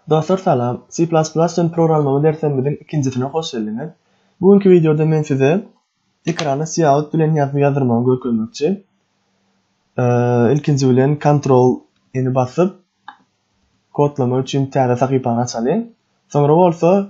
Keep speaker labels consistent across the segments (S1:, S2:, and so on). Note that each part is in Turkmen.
S1: Dostlar salam, C++ üçin programlama derslerimiziň ikinjisine hoş geldiňiz. Bu günki wideoda men size ekrana cout bilen ýazgy ýazdyrmagy görkezmekçi. Ilkinji bilen Ctrl eni basyp, kodlama üçin täze sahypany açalyň. Soňra bolsa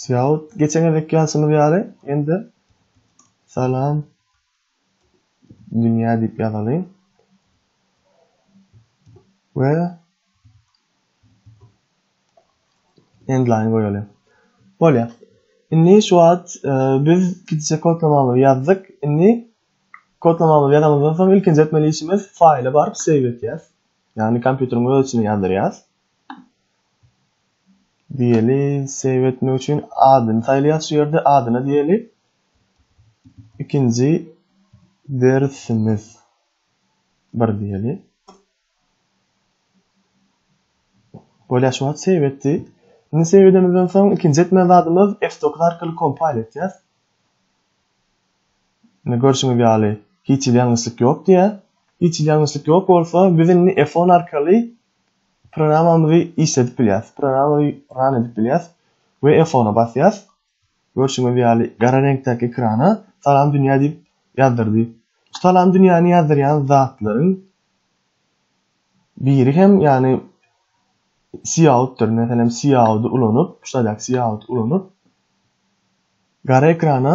S1: Sýaw, geçen gezek ýazşymyz ýaly, indi salam dünýä diýip ýazalyň. We endline goýaly. Bolýar. Indi şu wagt e, biz gidişe kodlamamyzy ýazdyk. Indi kodlamamyzy ýazandan soň ilkinji etmeli işimiz faýla baryp save etýäs. Ýagny kompýuteriň öz içine ýazdyrýas. Diýeli save etmek üçin adyny saýlaýas şu ýerde adyna diýeli. Ikinji dersimiz bir diýeli. Bolýa şu wagt save etdi. Indi save edemizden soň ikinji etmeli zadymyz F9 arkaly kompile etýäs. Indi görşüňiz ýaly hiç hili ýalňyşlyk ýok diýýär. Hiç hili ýalňyşlyk ýok bolsa biz indi F10 arkaly Programamyzy işledip bilýäs. Programamyzy run edip bilýäs we F-ona basýas. Görşüňiz ýaly gara reňkdäki ekrana Salam dünýä diýip ýazdyrdy. Şu Salam dünýäni ýazdyrýan zatlaryň biri hem ýagny Cout-dyr. Meselem Cout-y ulanyp, şu ýerdäki Cout-y ulanyp gara ekrana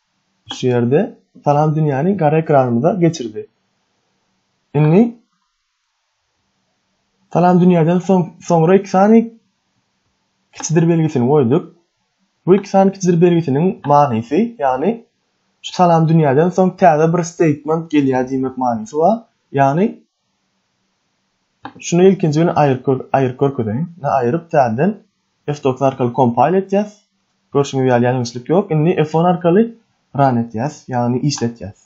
S1: Şu ýerde salam dünýäni gara ekranymyza geçirdi. Indi salam dünýäden soň soňra iki sany kiçidir belgisini goýduk. Bu iki sany kiçidir belgisiniň manysy, ýagny şu salam dünýäden soň täze bir statement gelýär diýmek manysy bar. Ýagny Şuny ilkinji gün aýyryp görkezeýin. Indi aýyryp täzeden F dokuz arkaly kompayl etýäs. Görşüňiz ýaly ýalňyşlyk ýok. Indi F on arkaly run etýäs, ýagny işletýäs.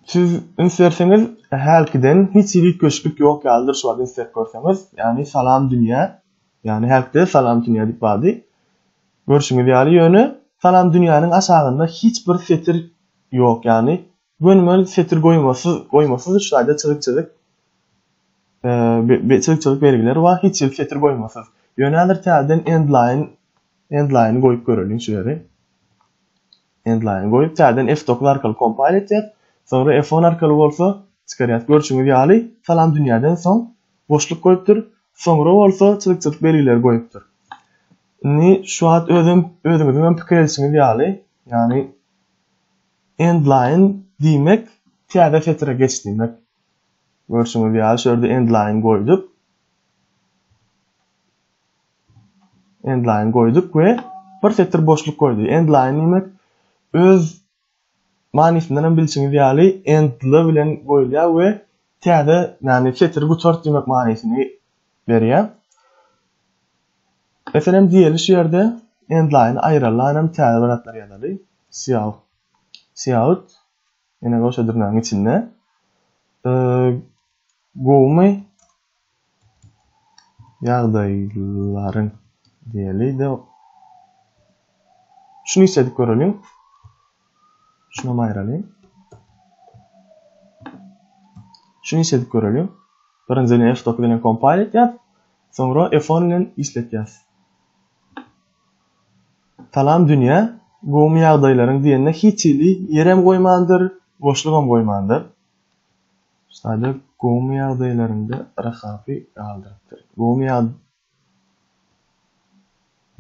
S1: Siz üns berseňiz, hälkiden hiç hili üýtgeşiklik ýok ýalydyr şu wagt üns berip görseňiz. Ýagny salam dünýä, ýagny hälkide salam dünýä diýip bardy. Görşüňiz ýaly ýöne salam dünýäniň aşagynda hiç bir setir ýok, ýagny Gönümel setir goýmasyz, goýmasyz üç taýda çyzyk-çyzyk e, çyzyk-çyzyk belgileri bar, hiç hili setir goýmasyz. Ýöne häzir täzeden endline endline goýup göreliň şu ýeri. Endline goýup täzeden F9 arkaly kompile etýär. Soňra F10 arkaly bolsa çykarýar. Görşüňiz ýaly, salam dünýäden soň boşluk goýupdyr. Soňra bolsa çyzyk-çyzyk belgileri goýupdyr. Indi şu wagt özüm özüňiziň hem pikir edişiňiz ýaly, ýagny Endline diýmek täze setire geç diýmek. Görşüňiz ýaly şu ýerde endline goýduk. Endline goýduk we bir setir boşluk goýdy. Endline diýmek öz manysyndan hem bilşiňiz ýaly endly bilen goýulýar we täze, ýagny setiri gutart diýmek manysyny berýär. Meselem diýeliş ýerde endline aýralanam täze bir atlar ýazaly, Siout, Siout, ýene goşa dürnägiň içinde, Gowumy ýagdaýlaryň diýeli-de, şuny isledip göreliň, şunam aýralyň, şuny isledip göreliň, birinjini F dokuz bilen kompile etýär, Soňra F-on bilen işletýäs. Salam Dünýä, gowumy ýagdaýlaryň diýende hiç hili ýerem goýmandyr, boşlugam goýmandyr. Şaýda gowumy ýagdaýlaryňda Rahapy galdyrypdyr. Gowumy ýag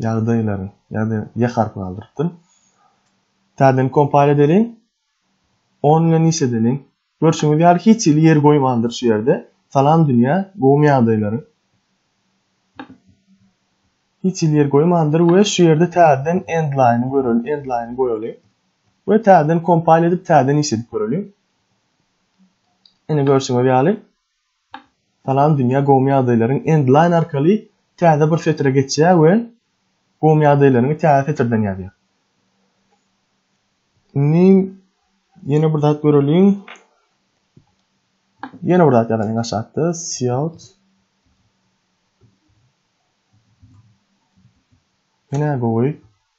S1: ýagdaýlaryň ýa-da ýa harpy galdyrypdyr. Täzeden kompal edeliň. On bilen işledeliň. Görşüňiz ýaly hiç hili ýer goýmandyr şu ýerde. Salam dünýä, gowmy ýagdaýlaryň? Hiç hili ýer goýmandyr we şu ýerde täzeden endline-y göreli, endline-y goýaly. We täzeden kompile edip täzeden iş edip göreli. Ine görşüňiz ýaly. Salam dünýä gowmy ýagdaýlaryň end line arkaly täze bir setire geçýär we gowmy ýagdaýlaryňy täze setirden ýazýar. Indi ýene bir zat göreliň. Ýene bir zat ýazalyň aşakda siot Ýene gowy.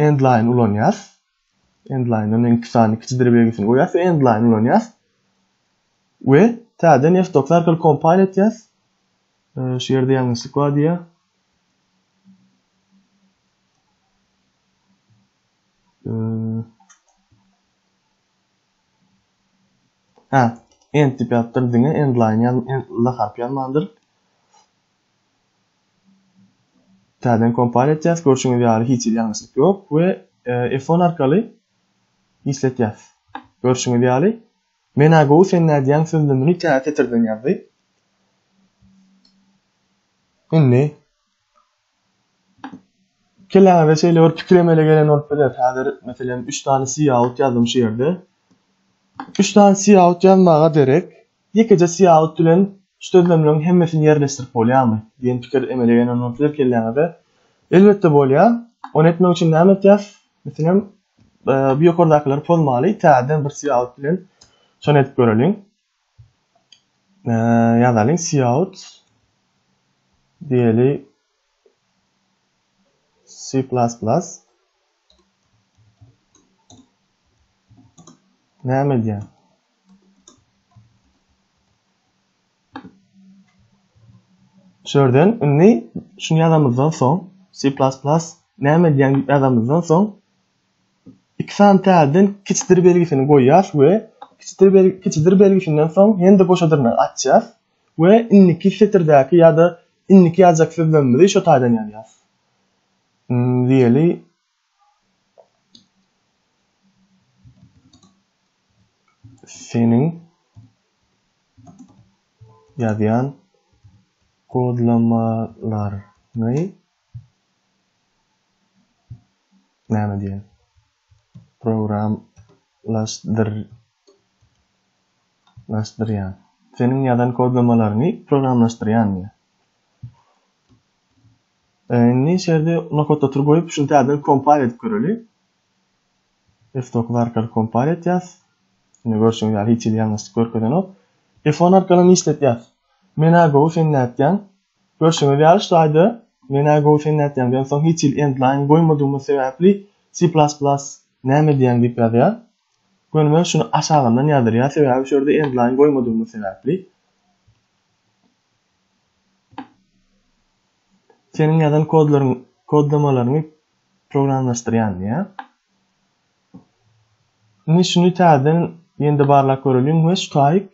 S1: endline ulanýas. Endline-dan iň kisany kiçidir belgisini goýýas we endline ulanýas. We täzeden F9 arkaly compile etýäs. Şu ýerde ýalňyşlyk bar diýýär. Ha, end diýip ýazypdyr diňe endline ýa end harpy ýazmandyr. Täzeden kompal etýäs, görşüňiz ýaly hiç hili ýalňyşlyk ýok we F10 arkaly işletýäs. Görşüňiz ýaly Men-ä gowy sen nädýäň sözlemini tä setirden ýazdy. Indi kelläňize şeýle bir pikir emele gelen bolup biler. Häzir meselem 3 sany cout ýazdym şu ýerde. 3 sany cout ýazmaga derek Ýekeje syýahat bilen şu sözlemleriň hemmesini ýerleşdirip bolýarmy? diýen pikir emele gelen bolsa bir kelläňize, elbetde bolýar. Ony etmek üçin näme etýäs? Meselem, bu ýokardakylary pozmaly, täzeden bir syýahat bilen şony edip göreliň. Ýazalyň, syýahat diýeli, C++ näme edýär? Şu ýerden indi şuny ýazamyzdan soň C++ näme edýän ýazamyzdan soň iki sany täzeden kiçidir belgisini goýýas we kiçidir belgisinden soň hem-de goşa dyrnagy açýas. We indiki setirdäki ýa-da indiki ýazjak sözlerimizi şo taýdan ýazýas. Diýeli. Seniň ýazýan kodlamalaryňy näme diýeli. programlaşdyrýan. Seniň ýazan kodlamalaryňy programlaşdyrýan diýýär. Indi içerde nokot otur goýup, şunu täzeden kompal edip göreli. F9 arkaly kompal etýäs. Indi görşüňiz ýaly hiç hili ýalňyşlyk görkezenok. F10 arkaly işletýäs. Mena gowy sen nätýäň? Görşüňiz ýaly şu aýda men-ä gowy sen nätýäň diýen soň hiç hili endline goýmadygymyz sebäpli C++ näme diýýäň diýip ýazýar. Gönümel şuny aşagyndan ýazylýar sebäbi şu ýerde endline goýmadygymyz sebäpli. Seniň ýazan kodlaryň kodlamalaryňy programlaşdyrýan diýýär. Indi şuny täzeden ýene-de barlap göreliň we şu taýyk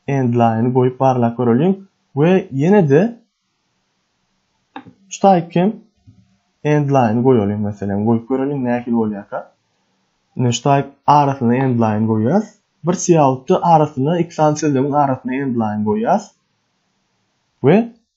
S1: Endline goýup barlap göreliň we ýene-de şu taýyp hem endline goýalyň meselem goýup göreliň nähili bolýarka. Ine şu taýyp arasyna endline goýýas. Bir siýautda arasyna iki sany sözlemiň arasyna endline goýýas. We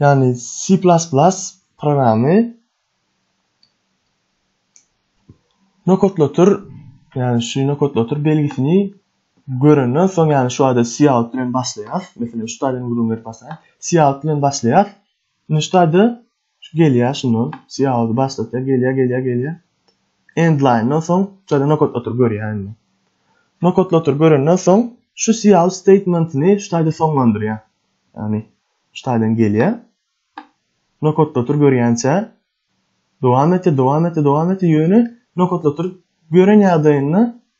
S1: Ýagny C++ programmy nokatlatyr, ýagny şu nokatlatyr belgisini görenden soň, ýagny şu ýerde C alt bilen başlaýar. Meselem, şu taýdan gürrüň berip başlaýar. C alt bilen başlaýar. Indi şu taýda Şu gelýär şundan. Siýaozy başlatýar. Gelýär, gelýär, gelýär. Endlaýndan soň şeýle nokatlatyr görýär indi. Nokatlatyr görenden soň şu siýaoz statementini şu taýda soňlandyrýar. Ýagny şu taýdan gelýär. Nokatlatyr görýänçä dowam etýär, dowam etýär, dowam etýär. Ýöne nokatlatyr gören ýagdaýynda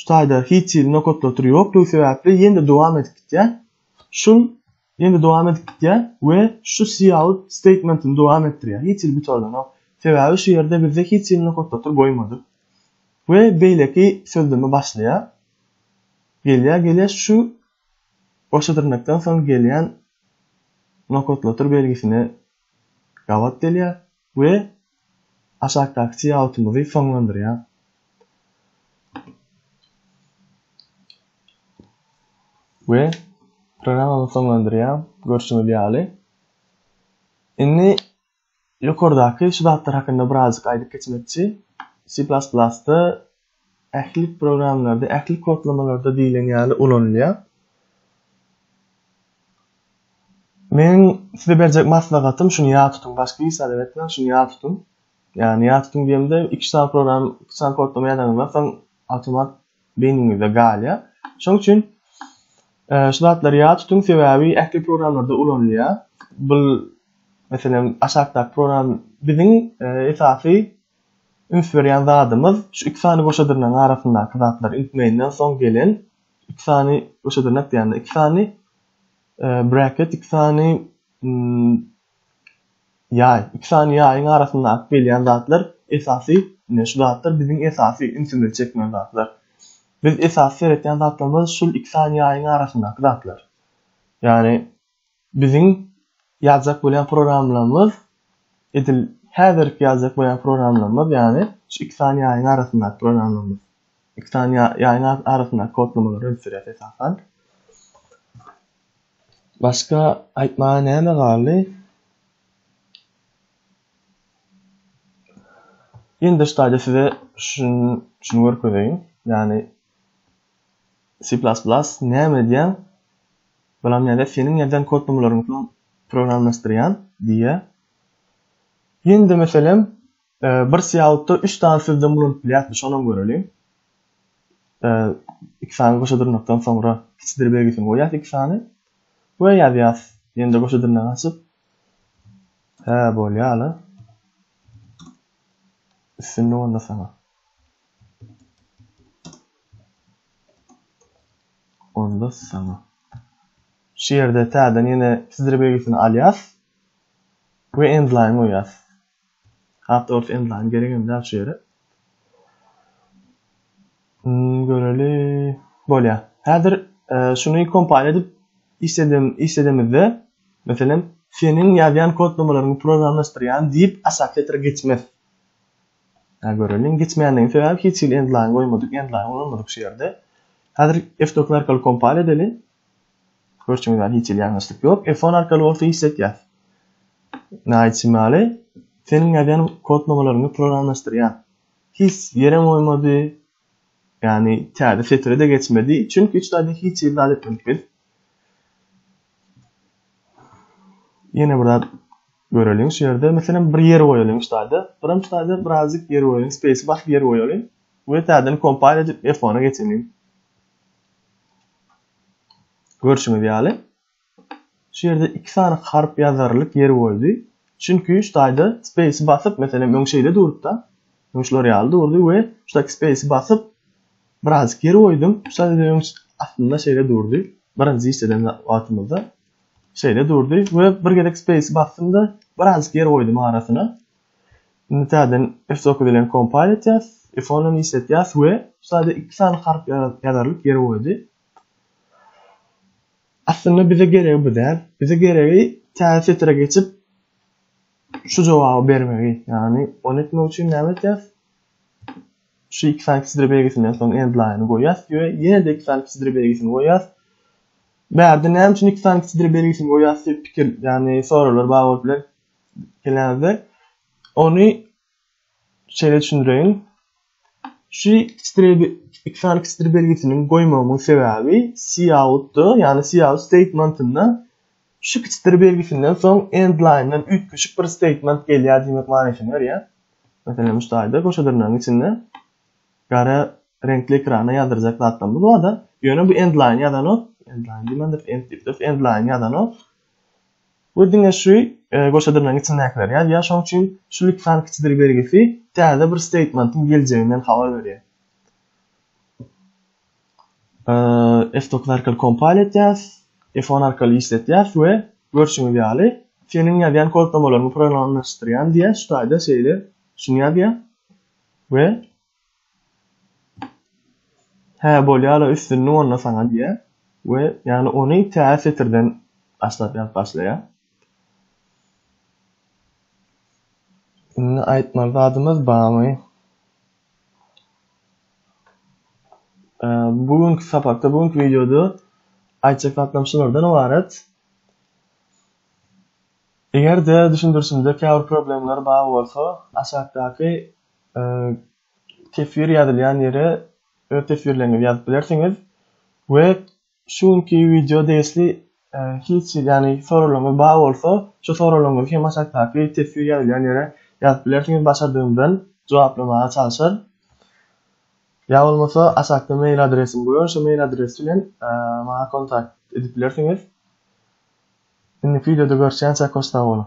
S1: Şu taýda hiç hili nokatlatyr ýokdugy sebäpli ýene dowam edip gitýär. Şul ýene dowam edip gitýär we şu cout statementini dowam etdirýär. Hiç hili gutardanok. Sebäbi şu ýerde bizde hiç hili nokatlatyr goýmadyk. We beýleki sözleme başlaýar. Gelýär, gelýär şu goşa dyrnakdan soň gelýän nokatlatyr belgisine gabat gelýär. We aşakdaky çiýautymyzy soňlandyrýas. We programmamy soňlandyrýan görşüňiz ýaly. Indi ýokardaky şu zatlar hakynda birazjyk aýdyp geçmekçi. C++-da ähli programmalarda, ähli kodlamalarda diýlen ýaly ulanylýar. Men size berjek maslahatym şuny ýa tutuň, başga hiç zat etmäň, şuny ýa tutuň. Ýani ýa tutuň diýemde, iki sany program, iki sany kodlama ýazaňyzda soň awtomat beýniňizde galýar. Şonuň üçin e, şu zatlary ýa tutuň, sebäbi ähli programmalarda ulanylýar. Bu meselem aşakdaky program biziň e, esasy Ösüberýän zadymyz şu iki sany goşa dyrnagyň arasyndaky zatlar. Ilk meýnden soň gelen iki sany goşa dyrnak diýende iki sany bracket iki sany ýaý, iki sany ýaýyň arasyndaky gelýän zatlar esasy ine şu zatlar biziň esasy ünsümizi çekmeli zatlar. Biz esasy seretýän zatlarymyz şul iki sany ýaýyň arasyndaky zatlar. Ýagny Biziň ýazjak bolýan programlamyz edil häzirki ýazjak bolýan programlamyz ýagny şu iki sany ýaýyň arasyndaky programlamyz. Iki sany ýaýyň arasyndaky kodlamalary öňe sürýär esasan. Başga aýtmaga näme galdy? Indi ştaýda size şuny şuny görkezeýin. Ýagny C++ näme edýär? Balam nädä seniň ýadan kodnamalaryňy soň programmlaşdyrýan? diýýä. Ýene-de meselem, bir sýautda üç sany sözden ulanyp bilýäsmi, şonam göreliň. Iki sany goşa dyrnakdan soňra kiçidir belgisini goýýas iki sany we ýazýas. Ýene-de goşa dyrnagy açyp, Hä, bolýar-la. Üstünlik onda saňa. Onda saňa. Şu ýerde täzeden ýene pdr belgisini alýas we endline goýýas. Hat dogrusu endline geregem däl şu ýere. Hmm, göreli. Bolýar. Häzir e, şuny kompile edip işledem işledemizde meselem seniň ýazýan kodlamalaryňy programlaşdyrýan diýip aşaky setre geçmez. Ä göreliň geçmänligiň sebäbi hiç hili endline goýmadyk endline ulanmadyk şu ýerde. Häzir F9 arkaly kompal edeli. Görşüňiz ýaly hiç hili ýalňyşlyk ýok. F10 arkaly bolsa işletýär. Naýt Şimali seniň ýazýan kodlamalaryňy programlaşdyrýan. Hiç ýerem goýmady. Ýagny täze setire-de geçmedi. Çünki hiç zady hiç hili zat etmedik biz. Ýene bir zat göreliň şu ýerde. Meselem bir ýer goýalyň şu zada. Birim şu zada birazjyk ýer goýalyň. Space basyp ýer goýalyň. We täzeden kompile edip F1-e geçeliň. Görşüňiz ýaly. Şu ýerde iki sany harp ýazarylyk ýeri boldy. Çünki şu taýda space basyp, meselem öň şeýle durupda. Öň şular ýaly durdy we şu taýda space basyp birazjyk ýer goýdum. Şu taýda öň aslynda şeýle durdy. Birinji iş eden wagtymyzda şeýle durdy we bir gezek space basdymda birazjyk ýer goýdum arasyna. Indi täzeden F9 bilen compile etýäs. F10 işletýäs we şu taýda iki sany harp ýazarylyk ýeri goýdy. Aslynda bize geregi bu däl. Bize geregi täze setre geçip şu jogaby bermegi. Ýagny ony etmek üçin näme etýäs? Şu iki sany kiçidre belgisinden soň end line goýýas we ýene-de iki sany kiçidre belgisini goýýas. Bärde näme üçin iki sany kiçidre belgisini goýýas diýip pikir, ýagny soraglar bar bolup biler. Gelenizde ony şeýle düşündireýin. Şu ikidir iki sany ikidir belgisini goýmagymyň sebäbi cout-da, ýagny cout statementinde şu ikidir belgisinden soň end line-dan üýtgeşik bir statement gelýär diýmek manysyny berýär. Meselem, şu taýda goşadyrnagyň içinde gara reňkli ekrana ýazdyrjak zatlarymyz bar-da, ýöne bu end line ýazanok, end line diýmändir, end diýipdir, end line ýazanok. We diňe şu goşadyrnagyň içindäkileri ýazýar, şonuň üçin şu lütfan kiçidir belgisi täze bir statementiň geljeginden habar berýär. F-dokuz arkaly kompal etýäs, F-on arkaly işletýäs we görşüňiz ýaly seniň ýazýan kodlamalaryňy programlaşdyrýan diýýär, şu taýda şeýle şuny ýazýar we Hä, bolýa-la, üstünlik onda saňa diýýär we ýagny ony tä setirden başlap ýazyp başlaýar. Indi aýtmaly zadymyz barmy? Bu günki sapakda, bu günki wideoda aýtjak zatlarym şulardan ybarat. Eger-de düşündirişimde käbir problemler bar bolsa, aşakdaky Teswir ýazylýan ýere öz teswirleriňizi ýazyp bilersiňiz we şu günki wideo degişli hiç ýagny soraglaryňyz bar bolsa, şu soraglaryňyzy hem aşakdaky teswir ýazylýan ýere ýazyp bilersiňiz, başardygymdan jogaplamaga çalyşaryn. Ýa bolmasa aşakda mail adresim goýan, şu mail adres bilen maňa kontakt edip bilersiňiz. Indiki wideoda görüşýänçä hoş sag boluň.